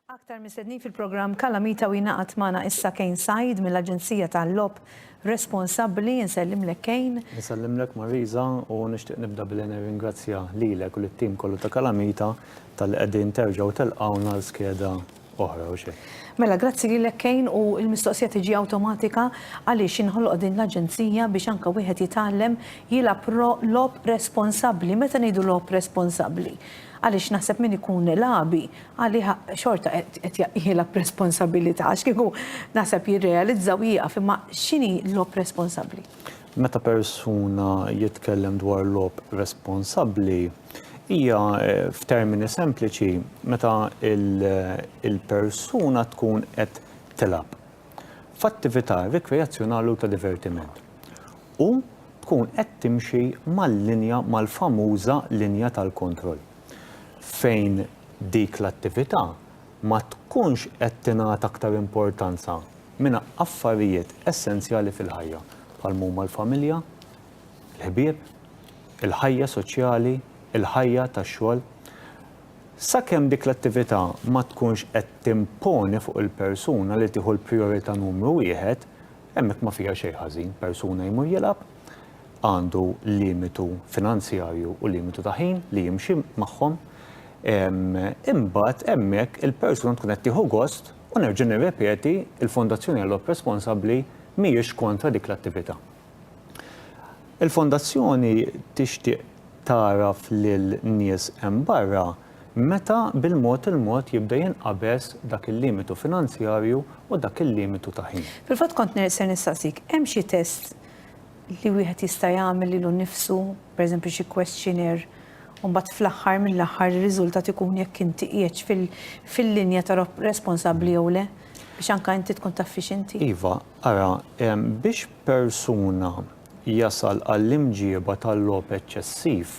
Aktar mistednin fil-programm Kalamita u jingħaqad magħna issa Kane Said mill-Aġenzija tal-Logħob Responsabbli. Insellimlek Kane. Insellimlek Marisa u nixtieq nibda billi nirringrazzja lilek u lit-tim kollu ta' Kalamita tal-li qegħdin terġgħu telqgħuna l-skeda oħra u xejn. Mela grazzi lilek Kane u l-mistoqsija tiġi awtomatika għaliex inħoloq din l-aġenzija biex anke wieħed jitgħallem jilgħab logħob responsabbli. Meta ngħidu logħob responsabbli? Għaliex naħseb min ikun lagħbi għalih xorta qed jilgħab b'responsabilità għax kieku naħseb jirrealizza u jieqaf imma x'inhi logħob responsabbli? Meta persuna jitkellem dwar logħob responsabbli, Hija f'termini sempliċi meta l-persuna tkun qed tilgħab f'attività rikreazzjonali u ta' divertiment u tkun qed timxi mal-linja mal-famuża linja tal-kontroll fejn dik l-attività ma tkunx qed tingħata aktar importanza minn affarijiet essenzjali fil-ħajja bħal m'huma l-familja, il-ħbieb, il-ħajja soċjali, il-ħajja tax-xogħol. Sakemm dik l-attività ma tkunx qed timponi fuq il-persuna li tieħu l-prijorità numru wieħed, hemmhekk ma fiha xejn ħażin. Persuna jmur jilgħab, għandu limitu finanzjarju u limitu ta' ħin li jimxi magħhom, imbagħad hemmhekk il-persuna tkun qed tieħu gost u nerġa' nirrepeti, il-Fondazzjoni għall-Logħob Responsabbli mhijiex kontra dik l-attività. Il-Fondazzjoni tixtieq tagħraf lil nies hemm barra meta bil-mod il-mod jibda jinqabeż dak il-limitu finanzjarju u dak il-limitu ta' ħin. Fil-fatt kont ne se nistaqsik, hemm xi test li wieħed jista' jagħmel lilu nnifsu, pereżempju xi questionnaire, u mbagħad fl-aħħar mill-aħħar ir-riżultat ikun jekk inti qiegħedx fil-linja ta' responsabbli jew le, biex anke inti tkun taf fiex inti? Iva, ara, biex persuna jasal għall-imġieba tal-logħob eċċessiv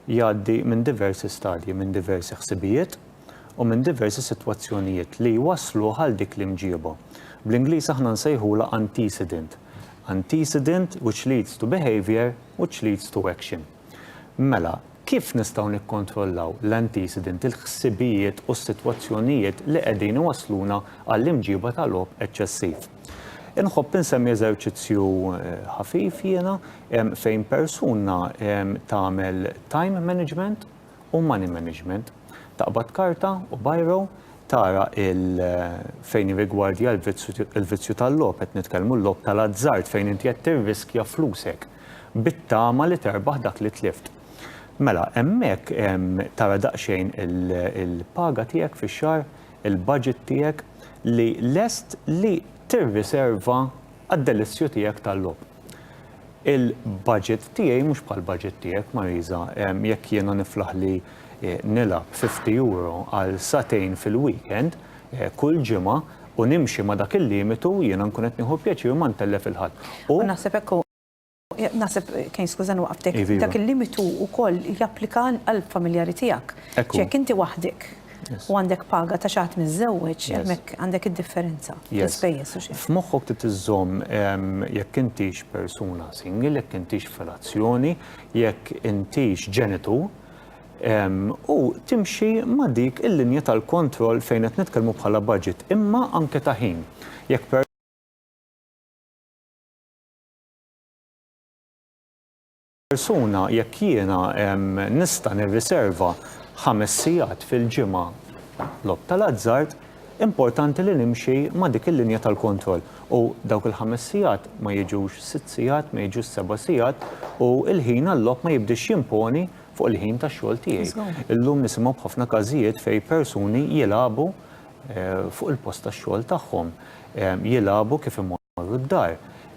jgħaddi minn diversi stadji, minn diversi ħsibijiet u minn diversi sitwazzjonijiet li jwassluh għal dik l-imġieba. Bl-Ingliż aħna nsejħulha antecedent. Antecedent which leads to behaviour which leads to action. Mela, Kif nistgħu nikkontrollaw l-anticident, il-ħsibijiet u s-sitwazzjonijiet li qegħdin iwassluna għall-imġiba ta' logħob eċċessiv? Inħobb insemmi eżerċizzju ħafif jiena fejn persuna tagħmel time management u money management. Taqbad karta u biro, tara fejn jirrigwardja l-vizzju tal-logħob, qed nitkellmu l-logħob tal-azzard fejn inti qed tirriskja flusek. bit-tama li terbaħ dak li tlift. Mela, hemmhekk tara daqsxejn il-paga tiegħek fix-xahar, il-budget tiegħek li lest li tirriserva għad-delizzju tiegħek tal-logħob. Il-budget tiegħi mhux bħall-budget tiegħek, Marisa. Jekk jiena niflaħ li nilgħab €50 għal sagħtejn fil-weekend, kull ġimgħa u nimxi ma' dak il-limitu, jiena nkun qed nieħu pjaċir ma ntellef il-ħadd. U naħseb hekk hu. Naħseb, Kane skużani waqftek, dak il-limitu wkoll japplika għall-familjari tiegħek. Hekk hu. Jekk inti waħdek u għandek paga ta' xi ħadd miżżewweġ, hemmhekk għandek id-differenza fl-ispejjeż u xi. F'moħħok trid iżżomm jekk intix persuna single, jekk intix f'relazzjoni, jekk intix ġenitur, u timxi ma' dik il-linja tal-kontroll fejn qed nitkellmu bħala budget imma anke ta' ħin. Jekk per. Persuna jekk jiena nista' nirriserva ħames sigħat fil-ġimgħa logħob tal-azzard, importanti li nimxi ma' dik il-linja tal-kontroll u dawk il-ħames sigħat ma jiġux sitt sigħat, ma jiġux seba' sigħat u l-ħin għal-logħob ma jibdiex jimponi fuq il-ħin tax-xogħol tiegħi. Illum nisimgħu b'ħafna każijiet fejn persuni jilagħbu fuq il-post tax-xogħol tagħhom, jilagħbu kif imorru d-dar,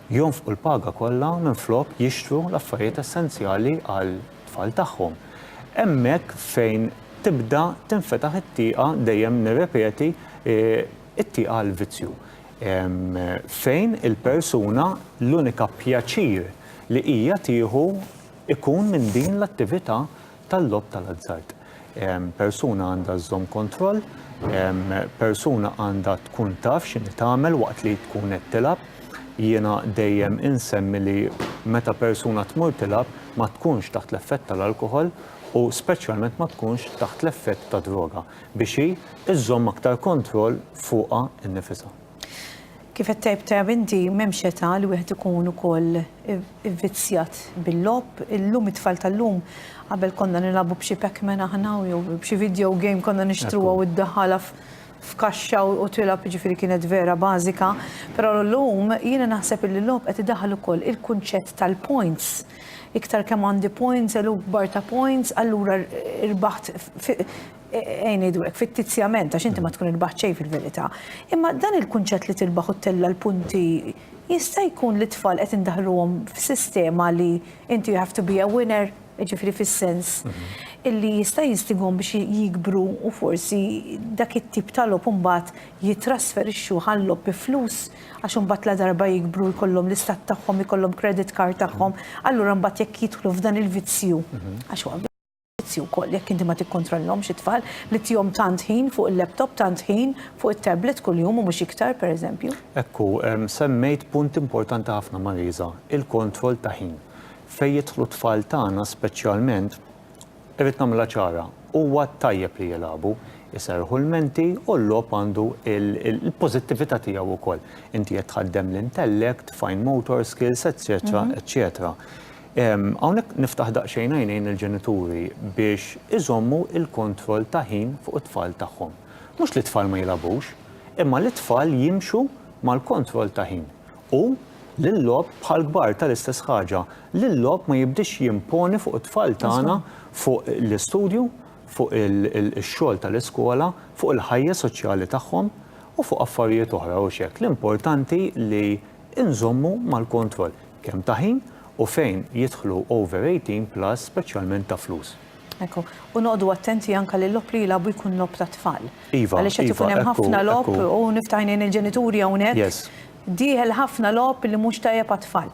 jonfqu l-paga kollha minflok jixtru l-affarijiet essenzjali għat-tfal tagħhom. Hemmhekk fejn tibda tinfetaħ it-tieqa, dejjem nirrepeti, it-tieqa għall-vizzju. Fejn il-persuna l-unika pjaċir li hija tieħu, ikun minn din l-attività tal-logħob tal-azzard. Persuna għandha żżomm kontroll, persuna għandha tkun taf x'inhi tagħmel waqt li tkun qed tilgħab. Jiena dejjem insemmi li meta persuna tmur tilgħab ma tkunx taħt l-effett tal-alkoħol u speċjalment ma tkunx taħt l-effett ta' droga biex hi żżomm aktar kontroll fuqha nnifisha. Kif qed tgħid tajjeb inti, m'hemmx età li wieħed ikun ukoll ivvizzjat bil-logħob. Illum it-tfal tal-lum qabel konna nilagħbu b'xi Pac-Man aħna jew b'xi video game konna nixtruha u ddaħħalha f'kaxxa u tilgħab jiġifieri kienet vera bażika. Però llum jiena naħseb li l-logħob qed idaħħal ukoll il-kunċett tal-points. Iktar kemm għandi points, eluf kbar ta' points, allura rbaħt Għin idwek fittizjament għax inti ma tkun irbaħt xejn fil-verità. Imma dan il-kunċett li tirbaħ u tella l-punti jista' jkun li tfal qed indaħluhom f'sistema li inti you have to be a winner, ġifieri fis-sens illi jista' jinstigom biex jikbru u forsi dak it-tip ta' logħob imbagħad jittrasferixxu għal logħob bi flus għax imbagħad la darba jikbru jkollhom l-istat tagħhom, ikollhom credit card tagħhom, allura mbagħad jekk jidħlu f'dan il-vizzju għax Ġudizzju wkoll jekk inti ma tikkontrollhomx it-tfal li tihom tant ħin fuq il-laptop, tant ħin fuq it-tablet kuljum u mhux iktar, pereżempju. Hekk hu, semmejt punt importanti ħafna Marisa, il-kontroll ta' ħin. Fejn jidħlu t-tfal tagħna speċjalment, irrid nagħmilha ċara, huwa tajjeb li jilagħbu, iserrħu l-menti u l-logħob għandu l-pożittività tiegħu wkoll. Inti qed tħaddem l-intellect, fine motor skills, etċetera, etċetera. Hawnhekk niftaħ daqsxejn għajnejn lill-ġenituri biex iżommu l-kontroll ta' ħin fuq it-tfal tagħhom. Mhux li t-tfal ma jilgħabux, imma li t-tfal jimxu mal-kontroll ta' ħin. U li l-logħob bħall-kbar ta' l-istess ħaġa, li l-logħob ma jibdiex jimponi fuq it-tfal tagħna fuq l-istudju, fuq ix-xogħol ta' l-iskola, fuq il-ħajja soċjali tagħhom u fuq affarijiet oħra, u x'hekk. L-importanti li inżommu mal-kontroll kemm ta' ħin u fejn jidħlu over 18 plus speċjalment ta' flus. Ekku. U noqogħdu attenti anke li l-logħob li jilagħbu jkun logħob tat-tfal. Iva. Għaliex qed ikun hemm ħafna logħob u niftaħ għajnejn il-ġenituri hawnhekk. Yes. Dieħel ħafna logħob li mhux tajjeb għat-tfal.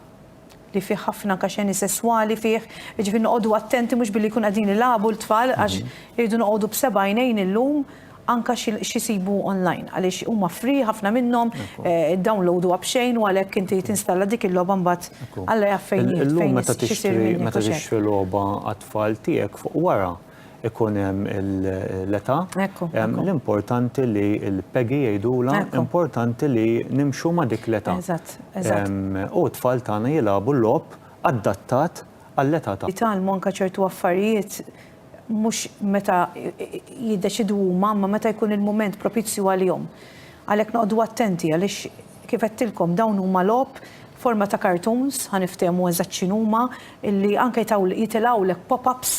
li fih ħafna anka xeni sesswali fih, jiġifieri noqogħdu attenti mhux billi jkunu qegħdin ilagħbu l-tfal għax irridu noqogħdu b'seba' għajnejn illum anka x'isibu online għaliex huma free ħafna minnhom, iddownloaduha b'xejn u għalhekk inti tinstalla dik il-logħba mbagħad Alla jaf fejn hi fejn x'isir minnha. Illum meta tixtri logħba għat-tfal tiegħek fuq wara ikun hemm l-età. L-importanti li l-Peggy jgħidulha importanti li nimxu ma' dik l-età. U t-tfal tagħna jilagħbu logħob adattat għall-età tagħhom. Jitgħallmu anke ċertu affarijiet mhux meta jiddeċiedu huma imma meta jkun il-mument propizju għalihom. Għalhekk noqogħdu attenti għaliex kif għedtilkom dawn huma logħob forma ta' cartoons, ħa niftehmu eżatt x'inhuma, li anke jitilgħulek pop-ups.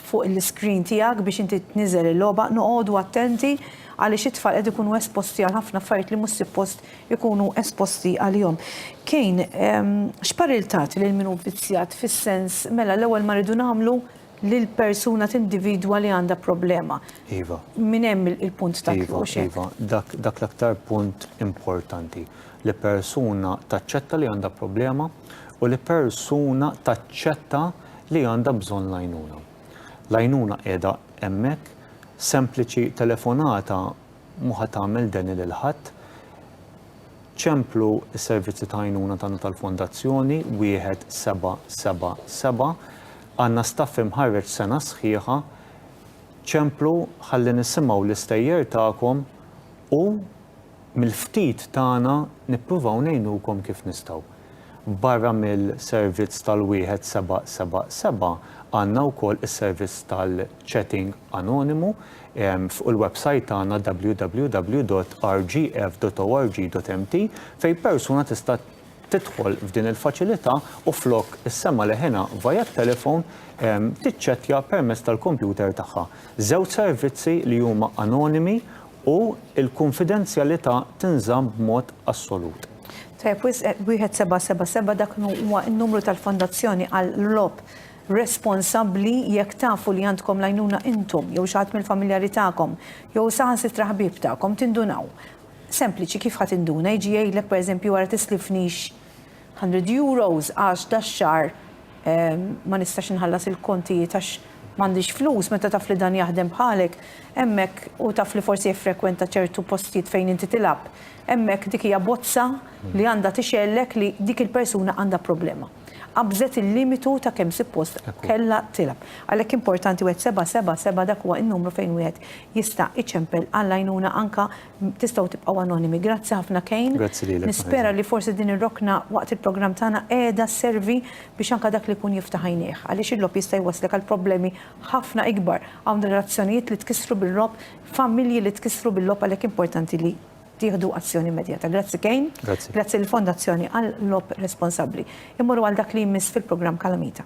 fuq il-screen tiegħek biex inti tniżel il-logħba, noqogħdu attenti għaliex it-tfal qed ikunu esposti għal ħafna affarijiet li mhux sippost ikunu esposti għalihom. Kane, ehm, x'parir tagħti lil min hu vvizzjat fis-sens mela l-ewwel ma rridu nagħmlu lil persuna tindividwa li għandha problema. Iva. Min hemm il-punt ta' iva, iva, dak dak l-aktar punt importanti li persuna taċċetta li għandha problema u li persuna taċċetta li għandha bżonn l-għajnuna. L-għajnuna qiegħda hemmhekk, sempliċi telefonata mhu ħa tagħmel deni lil ħadd. Ċemplu s-servizzi ta' għajnuna tagħna tal-Fondazzjoni 1777 għandna staff imħarreġ sena sħiħa ċemplu ħalli nisimgħu l-istejjer tagħkom u Mill-ftit tagħna nippruvaw ngħinukom kif nistgħu. Barra mill-servizz tal-1777 għandna wkoll is-servizz tal-chatting anonimu fuq il-websajt tagħna www.rgf.org.mt fejn persuna tista' tidħol f'din il-faċilità u flok issemma' leħinha via t-telefon, tiċċettja permezz tal-kompjuter tagħha. Żewġ servizzi li huma anonimi u l-kunfidenzjalità tinżamm b'mod assolut. Tajjeb wisq, 1777 dak li huwa n-numru tal-Fondazzjoni għall-logħob responsabbli jekk tafu li għandkom l-għajnuna intom jew xi ħadd mill-familjari tagħkom jew saħansitra ħbieb tagħkom tindunaw Sempliċi, kif ħa tinduna? Jiġi jgħidlek pereżempju ara tislifnix hundred euros għax dax-xahar ma nistax inħallas il-kontijiet għax m'għandix flus, meta taf li dan jaħdem bħalek, hemmhekk u taf li forsi jiffrekwenta ċertu postijiet fejn inti tilgħab, hemmhekk dik hija bozza li għandha tixgħellek li dik il-persuna għandha problema. qabżet il-limitu ta' kemm suppost kellha tilgħab. Għalhekk importanti wieħed seba' seba' seba' dak huwa n-numru fejn wieħed jista' iċempel għall-għajnuna anke tistgħu tibqgħu anonimi. Grazzi ħafna Kane. Grazzi lilek. Nispera li forsi din ir-rokna waqt il-programm tagħna qiegħda sservi biex anke dak li jkun jiftaħ għajnejh. Għaliex il-logħob jista' jwasslek għal problemi ħafna ikbar. Hawn relazzjonijiet li tkissru bil-logħob, familji li tkissru bil-logħob għalhekk importanti li tieħdu azzjoni immedjata. Grazzi Kane. Grazzi. Grazzi l-Fondazzjoni għal lob responsabbli. Immorru għal dak li jmiss fil-programm Kalamita.